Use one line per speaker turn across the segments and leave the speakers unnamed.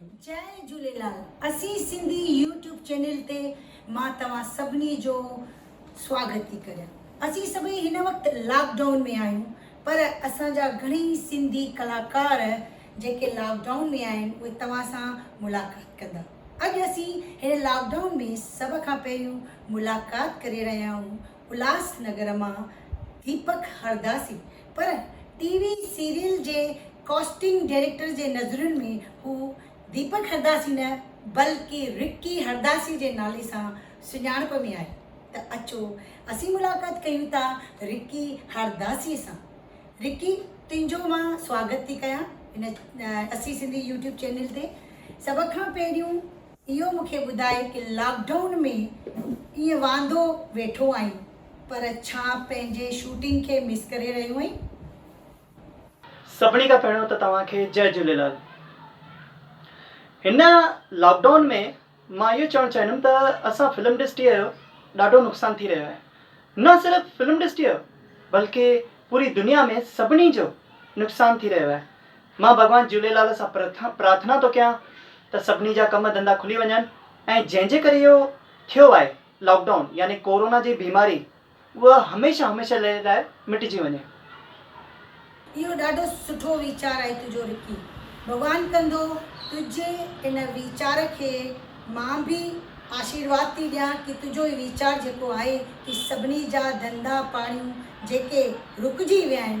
جئي جھوليلال اسين Sindhi YouTube channel تي مان توهان سڀني جو سواگت ٿي ڪريان اسين سڀئي هن وقت لاڪ ڊائون ۾ آهيون پر اسان جا گھڻئي سنڌي ڪلاڪار جيڪي لاڪ ڊائون ۾ آهن اهي توهان سان ملاقات ڪندا اڄ اسين هن لاڪ ڊائون ۾ سڀ کان پهريون ملاقات ڪري رهيا آهيون الهاس نگر مان ديپڪ هرداسي پر ٽي وي سيريل جي ڪاسٽنگ ڊائريڪٽر جي نظرين ۾ هو ديپڪ هرداسي نه بلڪ رڪي هرداسي جي نالي سان سڃاڻپ ۾ آهي ته اچو اسين ملاقات ڪيون ٿا رڪي هرداسي سان رڪي تنهنجو مان سواگت ٿي ڪيان هن اسين سنڌي يوٽيوب چينل تي سڀ کان پهريون اهو مون کي ٻڌائي ڪه لاڪ ڊائون ۾ ائين واندو ويٺو آهين پر ڇا پنهنجي شوٽنگ کي مس ڪري رهيو آهين؟ سڀني
کان پهريون ته توهان کي جئه جهوليلال. هن لاڪ ڊائون ۾ مان اهو چوڻ چاهيندم ته اسان فلم ڊسٽيء جو ڏاڍو نقصان ٿي رهيو آهي. نه صرف فلم ڊسٽيء جو بلڪه پوري دنيا ۾ سڀني جو نقصان ٿي رهيو آهي. مان ڀڳوان جهوليلال سان پرارٿنا ٿو ڪيان ته سڀني جا ڪم ڌنڌا کلي وڃن ۽ جنهن جي ڪري اهو ٿيو آهي لاڪ ڊائون يعني ڪورونا جي بيماري اها هميشه هميشه لئي لاء مٽجي وڃي. اهو
ڏاڍو سٺو ويچار آهي تنهنجو رڪي. ڀڳوان ڪندو تنهنجي ان ويچار کي مان به آشيرواد ٿي ڏيان ڪي تنهنجو هي ويچار جيڪو آهي ڪي سڀني جا ڌنڌا پاڻيون جيڪي رڪجي ويا آهن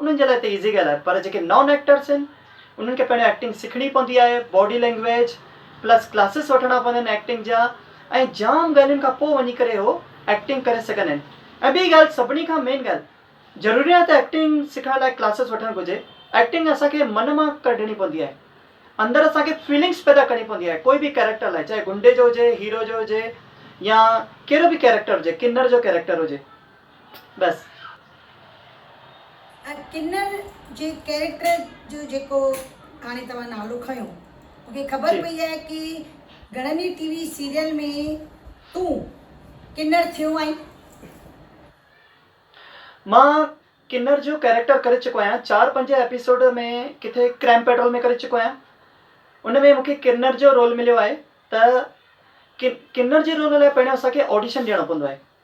انهن جي لاء ته ايزي ڳالهه آهي پر جيڪي نان ايڪٽرس آهن انهن کي پهريون ايڪٽنگ سکڻي پوندي آهي باڊي لينگويج پلس ڪلاسز وٺڻا پوندا آهن ايڪٽنگ جا ۽ جام ڳالهين کان پوء وڃي ڪري هو ايڪٽنگ ڪري سگهندا آهن ۽ ٻي ڳالهه سڀني کان مين ڳالهه ضروري ناهي ته ايڪٽنگ سکڻ لاء ڪلاسز وٺڻ گهرجي ايڪٽنگ اسان کي من مان ڪڍڻي پوندي آهي اندر اسان کي فيلنگس پيدا ڪرڻي پوندي آهي ڪوئي به ڪيريڪٽر لاء چاهي گنڊي جو هجي هيرو جو هجي يا ڪهڙو به ڪيريڪٽر هجي ڪنر جو ڪيريڪٽر هجي. بس.
۽ ڪنر جي ڪيريڪٽر جو جيڪو هاڻي توهان نالو کنيو مون کي خبر پئي آهي ڪي گهڻن ئي ٽي وي سيريل ۾ تون ڪنر ٿيو آهين.
مان ڪنر جو ڪيريڪٽر ڪري چڪو آهيان چار پنج ايپيسوڊ ۾ ڪٿي ڪرائم پيٽرول ۾ ڪري چڪو آهيان ان ۾ مون کي ڪنر جو رول مليو آهي ته ڪنر جي رول لاء پهريون اسان کي آڊيشن ڏيڻو پوندو آهي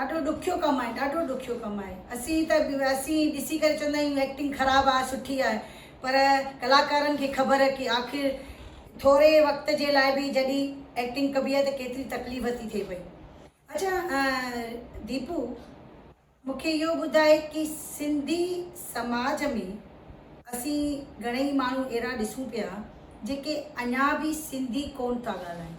ڏاڍو ڏکيو ڪم آهي ڏاڍو ڏکيو ڪم آهي اسين ته اسين ڏسي ڪري چوندا آهيون ايڪٽنگ خراب آهي سٺي آهي پر ڪلاڪارن کي خبر ڪي آخر ٿوري وقت جي لاء به جڏي ايڪٽنگ ڪبي آهي ته ڪيتري تڪليف ٿي ٿئي پئي. اڇا ديپو مون کي اهو ٻڌاء ڪي سنڌي سماج ۾ اسين گهڻئي ماڻهو اهڙا ڏسون پيا جيڪي اڃا به سنڌي ڪون ٿا ڳالهائين.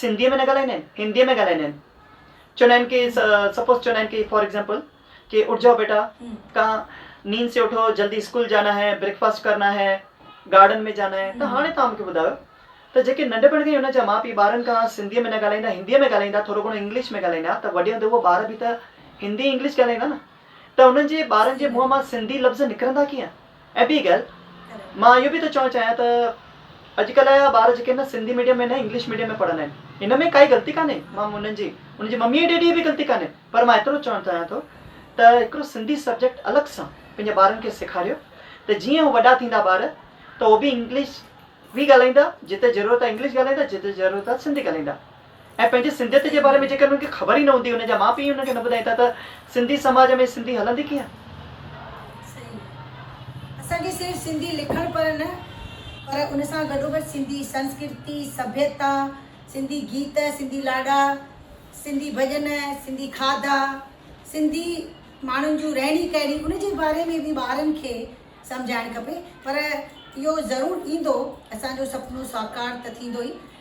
سنڌيء ۾ نه ڳالهائيندا آهن، هنديء ۾ ڳالهائيندا آهن. چوندا آهن ڪي سپوز چوندا آهن ڪي فار ايگزامپل ڪي اٺ جاؤ بيٽا ڪان نيند سي اٺو جلدي اسڪول جانا هي بريڪ فاسٽ ڪرنا هي گارڊن ۾ جانا هي ته هاڻي توهان مونکي ٻڌايو ته جيڪي ننڍپڻ کان ئي انهن جا ماء پيء ٻارن کان سنڌيء ۾ نه ڳالهائيندا هنديء ۾ ڳالهائيندا ٿورو گهڻو انگلش ۾ ڳالهائيندا ته وڏي هوندي اهو ٻار به ته هندي انگلش ڳالهائيندا نه ته انهن جي ٻارن جي منهن مان سنڌي لفظ نڪرندا ڪيئن؟ ابيگيل، مان اهو به ٿو چوڻ چاهيان ته اڄ ڪلهه جا ٻار جيڪي نه سنڌي ميڊيم ۾ نه انگلش ميڊيم ۾ پڙهندا آهن ان ۾ ڪائي غلطي ڪانهي مان انهن جي انهن جي ممي ڊيڊي جي به غلطي ڪانهي پر مان ايترو چوڻ چاهيان ٿو ته هڪڙو سنڌي سبجيڪٽ الڳ سان پنهنجي ٻارن کي سيکاريو ته جيئن هو وڏا ٿيندا ٻار ته هو به انگلش به ڳالهائيندا جتي ضرورت آهي انگلش ڳالهائيندا جتي ضرورت آهي سنڌي ڳالهائيندا ۽ پنهنجي سنڌيت جي باري ۾ جيڪر انهن کي خبر ئي نه هوندي انهن جا ماء پيء ئي انهن کي نه ٻڌائين ٿا ته سنڌي سماج ۾ سنڌي هلندي ڪيئن. صحيح اسان
کي صرف سنڌي لکڻ پڙهڻ نه پر ان سان گڏوگڏ سنڌي سنسڪرتي سڀيتا سنڌي گيت سنڌي لاڏا سنڌي ڀڄن سنڌي کاڌا سنڌي ماڻهن جون رهڻي ڪهڻي ان جي باري ۾ به ٻارن کي سمجهائڻ کپي پر اهو ضرور ايندو اسان جو سپنو ساڪار ته ٿيندو ئي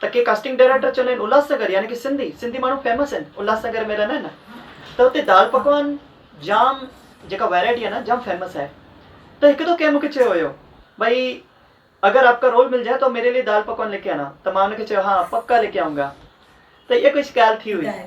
ته ڪي ڪاسٽنگ ڊائريڪٽر چوندا آهن الهاس نگر يعني ڪي سنڌي سنڌي ماڻهو فيمس آهن الهاس نگر ۾ رهندا آهن ته اتي دال پڪوان جام جيڪا ويرائٽي آهي نه جام فيمس آهي ته هڪ دو ڪنهن مونکي چيو هيو ڀئي اگر آپ ڪا رول مل جائي تو ميري لئي دال پڪوان ليڪي آنا ته مان ان کي چيو ها پڪا ليڪي آئونگا ته اها ڪجهه ڳالهه ٿي هئي.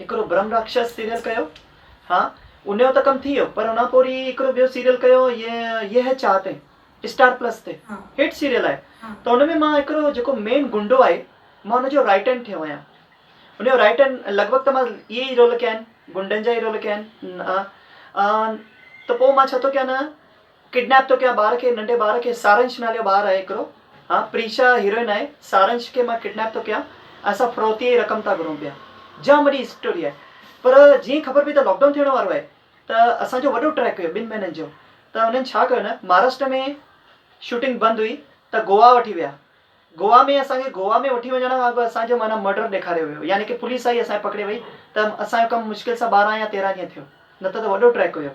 هڪڙو برهم راڪشس سيريل ڪيو ها انهيو ته ڪم ٿي ويو پر ان کان پوء وري هڪڙو ٻيو سيريل ڪيو هي يهه چاهتين اسٽار پلس تي هٽ سيريل آهي ته ان ۾ مان هڪڙو جيڪو مين گنڊو آهي مان ان جو رائٽ هينڊ ٿيو آهيان ان جو رائٽ هينڊ لڳ ڀڳ ته مان اهي ئي رول ڪيا آهن گنڊن جا ئي رول ڪيا آهن ته پوء مان ڇا ٿو ڪيان ڪڊنيپ ٿو ڪيان ٻار کي ننڍي ٻار کي سارنش نالي جو ٻار آهي هڪڙو ها پريشا هيروئن آهي سارنش کي مان ڪڊنيپ ٿو ڪيان اسان فروتي جي رقم ٿا گهرون پيا جام وڏي اسٽوري آهي پر جيئن خبر پئي ته لاڪ ڊائون ٿيڻ وارو آهي ته اسان جو وڏو ٽريڪ هيو ٻن مهينن جو ته هنن ڇا ڪيو نه مهاراشٽر ۾ شوٽنگ بند هئي ته گووا وٺي ويا گووا ۾ اسان کي گووا ۾ وٺي وڃڻ کان اڳ اسان جو معنيٰ مرڊر ڏيکاريو ويو يعني ڪي پوليس آئي اسان کي پڪڙي وئي ته اسان جو ڪم مشڪل سان ٻارهن يا تيرهن ڏينهن ٿيو نه ته ته وڏو ٽريڪ هيو.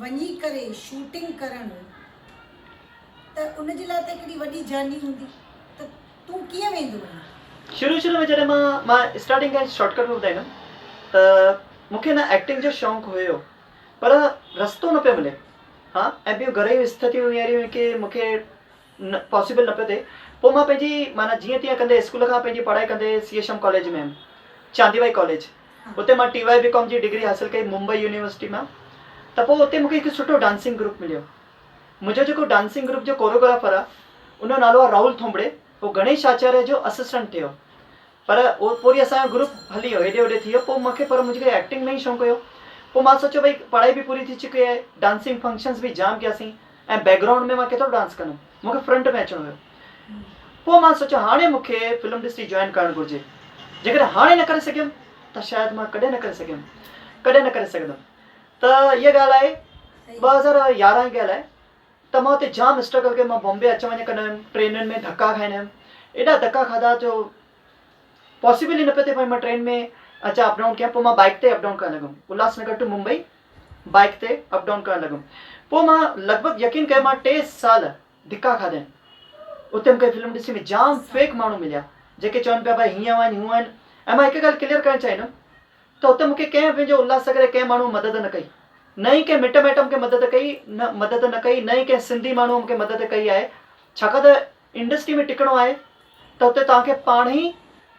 وڃي ڪري شوٽنگ ڪرڻ ته ان جي لاء ته هڪڙي وڏي جرني هوندي ته تون ڪيئن ويندو وڃي. شروع شروع ۾ جڏهن
مان مان اسٽارٽنگ کان ئي شارٽ ڪٽ ۾ ٻڌائيندم ته مون کي نه ايڪٽنگ جو شونق هيو پر رستو نه پيو ملي ها ۽ ٻيون گهريون استٿيون اهڙيون هيون ڪي مون کي نه پاسيبل نه پيو ٿئي پوء مان پنهنجي معنيٰ جيئن تيئن ڪندي اسڪول کان پنهنجي پڙهائي ڪندي سي ايڇ ايم ڪاليج ۾ هيم چاندي وائي ڪاليج اتي مان ٽي واء بي ڪام جي ڊگري حاصل ڪئي ممبئي يونيورسٽي مان ته پوء اتي مونکي هڪ سٺو ڊانسنگ گروپ مليو منهنجو جيڪو ڊانسنگ گروپ جو ڪوروگرافر آ ان جو نالو آ راهول ٿونڀڙي هو گڻيش آچاريه جو اسسٽنٽ ٿيو پر پوء وري اسان جو گروپ هلي ويو هيڏي هوڏي ٿي ويو پوء مونکي پر منهنجي کي ايڪٽنگ ۾ ئي شونق هيو پوء مان سوچيو ڀئي پڙهائي به پوري ٿي چڪي آهي ڊانسنگ فنڪشنز به جام ڪيا سين ۽ بيڪ گرائونڊ ۾ مان ڪيترو ڊانس ڪندم مونکي فرنٽ ۾ اچڻو هيو پوء مان سوچيو هاڻي مونکي فلم انڊسٽري جوائن ڪرڻ گهرجي جيڪڏهن هاڻي نه ڪري سگهيم ته شايد مان ڪڏهن نه ڪري سگهيم ڪڏهن نه ڪري سگهندم ته اها ڳالهه آهي ٻه هزار يارهن جي ڳالهه آهي. ته مان اتي جام اسٽرگل ڪئي مان بامبي اچ وڃ ڪندا هيم ٽرينن ۾ ڌڪا کائندا هيم ايڏا ڌڪا کاڌا جو پاسيبل ئي نه پيو ٿئي ڀاء مان ٽرين ۾ اچان اپ ڊائون ڪيان پوء مان بائيڪ تي اپ ڊائون ڪرڻ لڳم Ulhasnagar to Mumbai bike تي اپ ڊائون ڪرڻ لڳم پوء مان لڳ ڀڳ يقين ڪيو مان ٽي سال ڌڪا کاڌا آهن اتي مونکي فلم انڊسٽري ۾ جام فيڪ ماڻهو مليا جيڪي چون پيا ڀاء هيئن هئن هونئن ۽ مان هڪ ڳالهه ڪليئر ڪرڻ چاهيندم ته اتي مون کي ڪنهن پنهنجي الهاسگر جي ڪنهن ماڻهوء مدد نه ڪئي، نه ئي ڪنهن مٽ مائٽ مون کي مدد ڪئي نه مدد نه ڪئي، نه ئي ڪنهن سنڌي ماڻهوء مون کي مدد ڪئي آهي، ڇاڪاڻ ته انڊسٽري ۾ ٽڪڻو آهي ته اتي توهان کي پاڻ ئي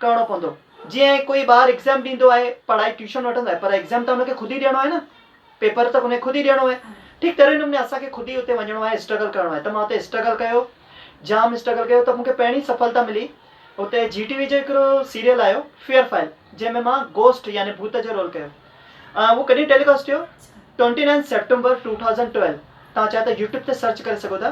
ڪرڻو پوندو، جيئن ڪوئي ٻار ايگزام ڏيندو آهي، پڙهائي ٽيوشن وٺندو آهي پر ايگزام ته هن کي خود ئي ڏيڻو آهي نه. پيپر ته انهي خود ئي ڏيڻو آهي ٺيڪ تهڙي نموني اسان کي خود ئي اتي وڃڻو آهي اسٽرگل ڪرڻو آهي ته مان اتي اسٽرگل ڪيو جام اسٽرگل ڪيو ته مون کي پهرين سڦلتا ملي اتي جي ٽي وي جو هڪڙو سيريل آيو فيئر فائل جنهن ۾ مان گوسٽ يعني ڀوت جو رول ڪيو اهو ڪڏهن ٽيليڪاسٽ ٿيو twenty nine September two thousand twelve تان چاهي ته يوٽيوب تي سرچ ڪري سگهو ٿا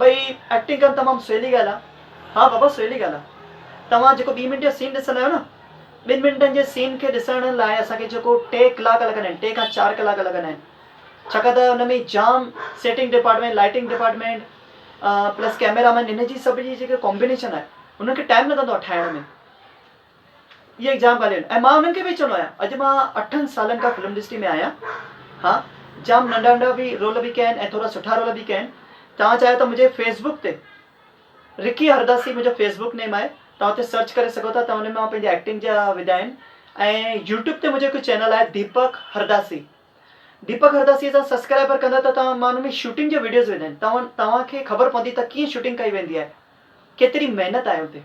ڀئي ايڪٽنگ ڪن تمام سولي ڳالهه آ. ها بابا سولي ڳالهه آ توهان جيڪو ٻي منٽ جو سين ڏسندا آهيو نه ٻن منٽن جي سين کي ڏسڻ لاء اسان کي جيڪو ٽي ڪلاڪ لڳندا آهن ٽي کان چار ڪلاڪ لڳندا آهن ڇاڪاڻ ته ان ۾ جام setting department lighting department plus camera man ان جي سڀ جي جيڪي ڪامبينيشن آهي ان کي ٽائم لڳندو آهي ٺاهڻ ۾ اهي ئي جام ڳالهيون آهن ۽ مان انهن کي به چوندو آهيان اڄ مان اٺن سالن کان فلم انڊسٽري ۾ آهيان ها جام ننڍا ننڍا به رول به ڪيا آهن ۽ ٿورا سٺا رول به ڪيا آهن توهان چاهيو ته منهنجي فيس بڪ تي رڪي هرداسي منهنجو فيس بڪ نيم آهي توهان اتي سرچ ڪري سگهو ٿا توهان ان مان پنهنجي ايڪٽنگ جا وڌا آهن ۽ يوٽيوب تي منهنجو هڪ چينل آهي ديپڪ هرداسي ديپڪ هرداسي سان سسڪرائبر ڪندا ته توهان مان ان ۾ شوٽنگ جا وڊيوز وڌا آهن توهان توهان کي خبر پوندي ته ڪيئن شوٽنگ ڪئي ويندي آهي ڪيتري محنت آهي اتي.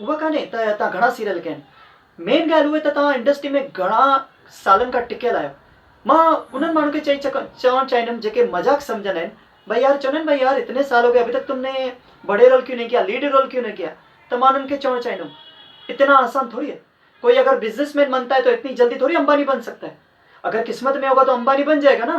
اها ڪانهي ته توهان گهڻا سيريل ڪين مين ڳالهه اهي ته توهان انڊسٽري ۾ گهڻا سالن کان ٽڪيل آهيو مان انهن ماڻهن کي چئي چوڻ چاهيندم جيڪي مذاق سمجهندا آهن ڀئي يار چوندا آهن ڀئي يار اتني سال هو گئي ابهي تڪ تم ني بڙي رول ڪيون نهي ڪيا ليڊ رول ڪيون نهي ڪيا ته مان انهن کي چوڻ چاهيندم اتنا آسان ٿوري هي ڪوئي اگر بزنس مين بنتا هي تو اتني جلدي ٿوري امباني بن سگتا هي اگر قسمت مين هوگا تو امباني بن جائيگا نا.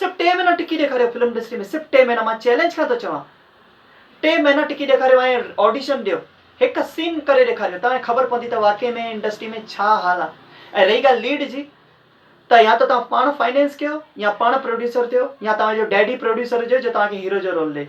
صرف ٽي مهينا ٽڪي ڏيکاريو فلم انڊسٽري ۾ صرف ٽي مهينا مان چئلينج کان ٿو چوان ٽي مهينا ٽڪي ڏيکاريو ۽ آڊيشن ڏيو هڪ سين ڪري ڏيکاريو تنهن خبر پوندي ته واقعي ۾ انڊسٽري ۾ ڇا حال آ ۽ رهي ڳالهه ليڊ جي ته يا ته توهان پاڻ فائنينس ڪيو يا پاڻ پروڊيوسر ٿيو يا توهان جو ڊيڊي پروڊيوسر هجيو جو توهان کي هيرو جو رول ڏي.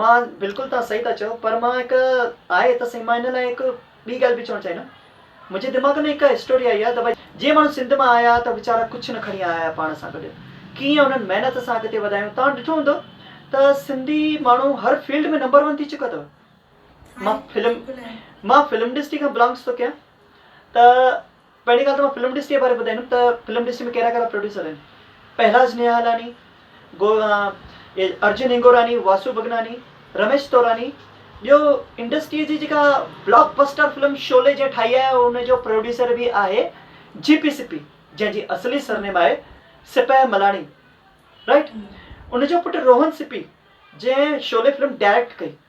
مان، بلڪل توهان صحيح ٿا چئو پر مان هڪ آهي ته سائين مان ان لاء هڪ ٻي ڳالهه به چوڻ چاهيندم منهنجي دماغ ۾ هڪ هسٽوري آئي آهي ته ڀائي جي ماڻهو سنڌ مان آيا ته ويچارا ڪجهه نه کڻي آيا آهيا پاڻ سان گڏ ڪيئن انهن محنت سان اڳتي وڌايون توهان ڏٺو هوندو ته سنڌي ماڻهو هر فيلڊ ۾ نمبر ون ٿي چڪا اٿو مان فلم مان فلم انڊسٽري کان بلانگس ٿو ڪيان ته پهرين ڳالهه ته مان فلم ڊسٽريء باري ٻڌائيندم ته فلم ڊسٽري ۾ ڪهڙا ڪهڙا پروڊيوسر آهن. پهلاج نهالاني، گو ارجن هنگوراني، واسو ڀڳناني، رميش توراني، ٻيو انڊسٽريء جي جيڪا بلاڪ بسٽر فلم شعلي جنهن ٺاهي آهي ان جو پروڊيوسر به آهي جي پي سپي جنهن جي اصلي سرنيم آهي سپهه ملاڻي رائيٽ ان جو پٽ روهن سپي جنهن شعلي فلم ڊائريڪٽ ڪئي.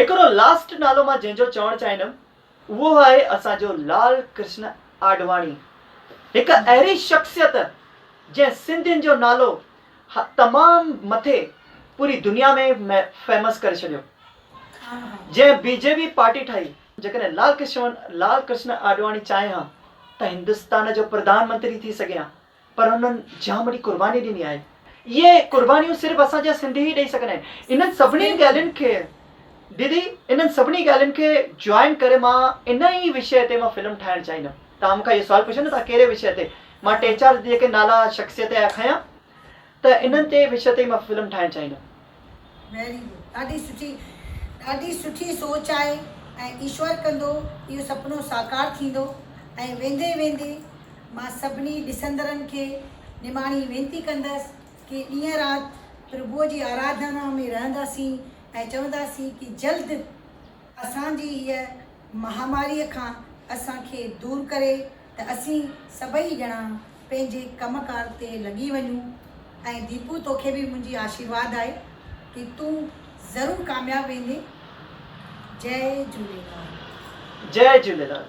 هڪڙو لاسٽ نالو مان جنهن جو چوڻ چاهيندم اهو آهي اسان جو لال ڪرشن آڏواڻي هڪ اهڙي شخصيت جنهن سنڌين جو نالو تمام مٿي پوري دنيا ۾ فيمس ڪري ڇڏيو جنهن بي جي وي پارٽي ٺاهي جيڪڏهن لال ڪرشن آڏواڻي چاهي ها ته هندستان جو پرڌان منتري ٿي سگهي ها پر انهن جام وڏي قرباني ڏني آهي. اهي قربانيون صرف اسان جا سنڌي ئي ڏئي سگهندا آهن. انهن سڀني ڳالهين کي ديدي انهن سڀني ڳالهين کي جوائن ڪري مان ان ئي وشيه تي مان فلم ٺاهڻ چاهيندم. توهان مون کان اهو سوال پڇيو نه توهان ڪهڙي وشيه تي مان ٽي چار جيڪي نالا شخصيت جا کنيا. ته انهن تي وشي تي مان فلم ٺاهڻ چاهيندم.
ويري گڊ ڏاڍي سٺي ڏاڍي سٺي سوچ آهي ۽ ايشور ڪندو اهو سپنو ساڪار ٿيندو ۽ ويندي ويندي مان سڀني ڏسندڙن کي نماڻي وينتي ڪندس ڪي ڏينهن رات پرڀوء جي آراڌنا ۾ رهنداسين ۽ چونداسين ڪي جلد اسان جي هيء مهاماريء کان اسان کي دور ڪري ته اسين سڀئي ڄڻا پنهنجي ڪم ڪار تي لڳي وڃون ۽ ديپو توکي به منهنجي آشيرواد آهي ته تون ضرور ڪامياب ويندين جئي جهوليلال. جئي جهوليلال.